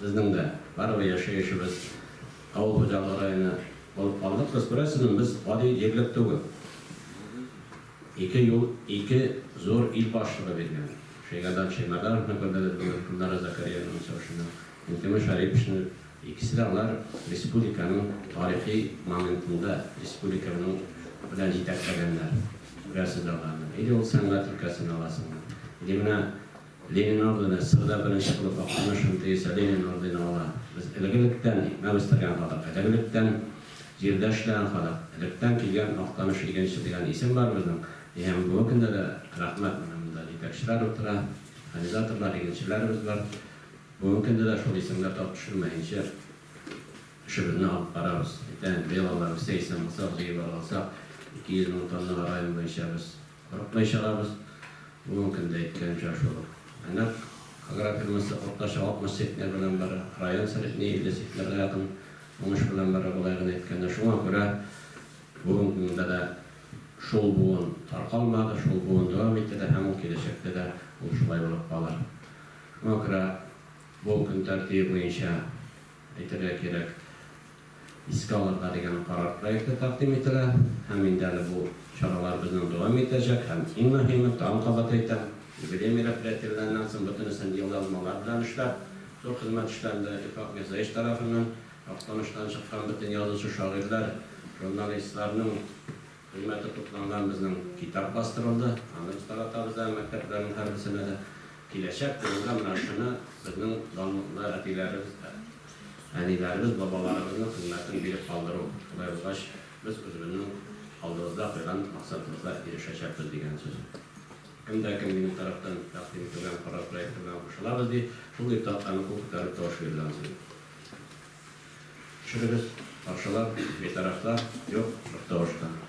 Безнең дә барыбер яшәү эшебез авыл хуҗалыгы районы булып калды. Кыз күрәсезме, без гади җирлек түгел. Ике юл, ике зур ил башлыгы биргән. Шәйгадан Шәймәрдановны күрдегез, бүген Гөлнара Зәкәриянованы чыгышында, Минтимер Шәриповичны. Икесе дә алар республиканың тарихи моментында республиканың белән җитәкләгәннәр. Күрәсез дә аларны. Или ул сәнгать өлкәсен аласызмы, или менә Ленин ордены, Сырда беренче булып Актаныш МТИСы Ленин ордены ала. Без элегелектән икмәк үстергән халык, элегелектән җирдә эшләгән халык, электән килгән Актаныш игенче дигән исем бар безнең. И һәм бүгенге көндә дә, рәхмәт, менә монда җитәкчеләр утыра, механизаторлар, игенчеләребез бар. Бүгенге көндә дә шул исемгә тап төшермәенчә эшебезне алып барабыз. Әйтәм, быел алар үсә исән булсак, җыеп алгалсак, 200 мең тоннага район буенча без Курыкмый чыгабыз. Бу мең көндә әйтелгәнчә шул ук. Әнәк агрофирмасы уртача 60 центнер белән бара. Район средние 50 центнерга якын уңыш белән бара, болай гына әйткәндә. Шуңа күрә бүген көнгә дә шул буын таркалмады, шул буын дәвам итә дә һәм ул киләчәктә дә ул шулай булып калыр. Шуңа күрә бу көн тәртибе буенча әйтергә кирәк. искә алырга дигән карар проекты тәкъдим ителә һәм инде әле бу чаралар безнең дәвам итәчәк һәм иң мөһиме, тагын кабат әйтәм, юбилей мероприятиеләреннән соң бөтенесен елъязмалар белән эшләп, зур хезмәт эшләнде, Ифрак Мирзаевич тарафыннан, Актаныштан чыккан бөтен язучы-шагыйрьләр, журналистларның, Кыйммәте тупланган безнең китап бастырылды. Аны без таратабыз әле мәктәпләрнең һәрберсенә дә. Киләчәк буынга менә шуны, безнең данлыклы әтиләребез, әниләребез, бабаларыбызның хезмәтен биреп калдыру, шулай булгач, без үзебезнең алдыбызда куйган максатыбызга ирешәчәкбез, дигән сүз. Кем дә кем минем тарафтан тәкъдим ителгән карар проекты белән кушылабыз, ди, шул ир тактаны кул күтәреп тавыш бирде ансын. Төшерегез, каршылар, битарафлар, юк, бер тавыш та.